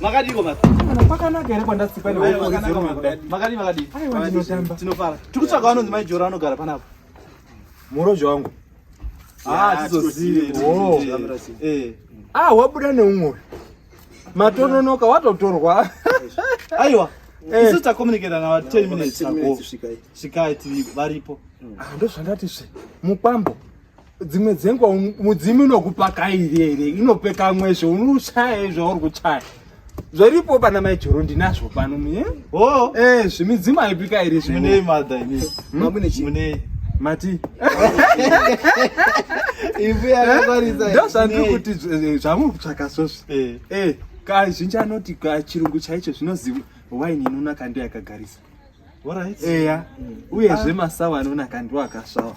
makadiko pakanaka here kwandatsikwa makadii makadii tinofara tikutsvaga vanonzi maijora vanogara panapa murozvi wangu ah, ah, ah wabuda neumwe Matononoka watotorwa. Aiwa. Eh. Isu takomuniketa na 10 minutes ago. Svikai tiri varipo. Ah, ndozvandati zve. Mukwambo. Dzimwe dzenguva mudzimu inokupaka iri inopeka mwezvo unochaya zvauri kuchaya zviripo pana maijoro ndinazvo pano Oh, eh, zvimidzimu aipika iri zvine. Mune mother ini. Hmm? Mamune chi. Mune mati. Ibu ya eh? kwaritsa. Ndo sandri kuti eh, zvamu kutsvaka sosi. Eh. Eh, ka zhinji anoti ka chirungu chaicho zvinoziva wine inonaka ndiyo yakagarisa. Alright. Eya. Hmm. Uye zve masawa anonaka ndiwo akasvawa.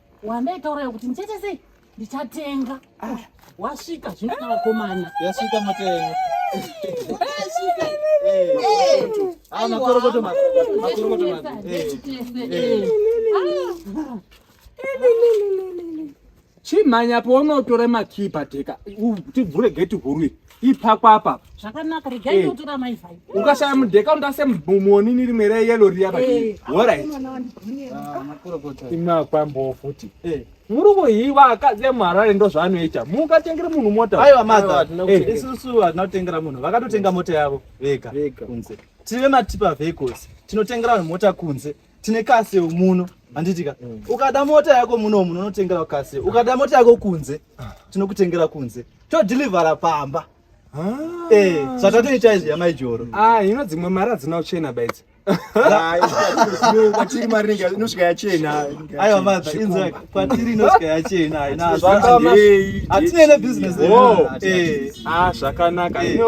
wandaitaura yokuti ndichaita sei ndichatenga ah. wasvika zvino kana vakomana yasvika matenga chimhanya paunotora makipa teka tibvure geti huru ipako apa zvakanaka regai eh. ndotora mai vhai ukashaya mudheka undase muonini rimwe reyelo riya pati eh. orit ah, imakwambowo futi eh. muri kuhiwa akadzi emuharare ndo zvaanoita mukatengere munhu mota aiwa madha isusu hatina kutengera munhu vakatotenga mota yavo vega kunze tiri vematipa vehicles tinotengera vanhu mota kunze tine kase muno handitika mm. ukada mota yako muno muno unotengera kase ukada mota yako kunze ah. tinokutengera kunze todhilivhara pamba ah. eh, zvatatoita izvi yamai joro ah, ino dzimwe mari hadzina uchena baidzi kwatiri mari inosvika yachena aiwa madha inzwa kwatiri inosvika yachena hatinene business eh. zvakanaka eh.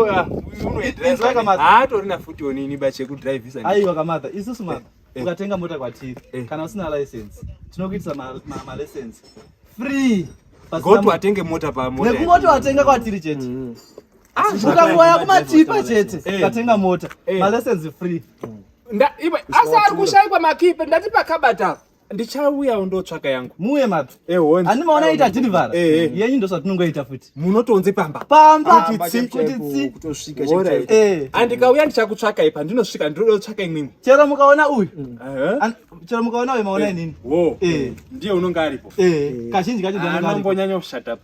haatorina futi onini bachekudrivisa aiwa kamadha isusu madha eh. ukatenga mota kwatiri eh. kana usina license tinokuitisa malesence free goto watenge mota pamonekungoto watenga kwatiri chete mm. ah, ukangoya kumatipa chete eh. ukatenga mota malesence free mm. asi ari kushaikwa makipe ndati pakabata ndichauya undotsvaka yangu muye mabvi ehoni ani maona ita delivery eh, eh. yenyu ndosvatinongoita futi munotonze pamba pamba kuti tsi kuti tsi kutosvika chete eh. andikauya ndichakutsvaka ipa ndinosvika ndinoda kutsvaka imwe chero mukaona uyu mm. chero mukaona uyu maona inini wo ndiye unonga aripo kazhinji kacho ndinombonyanya kushata pa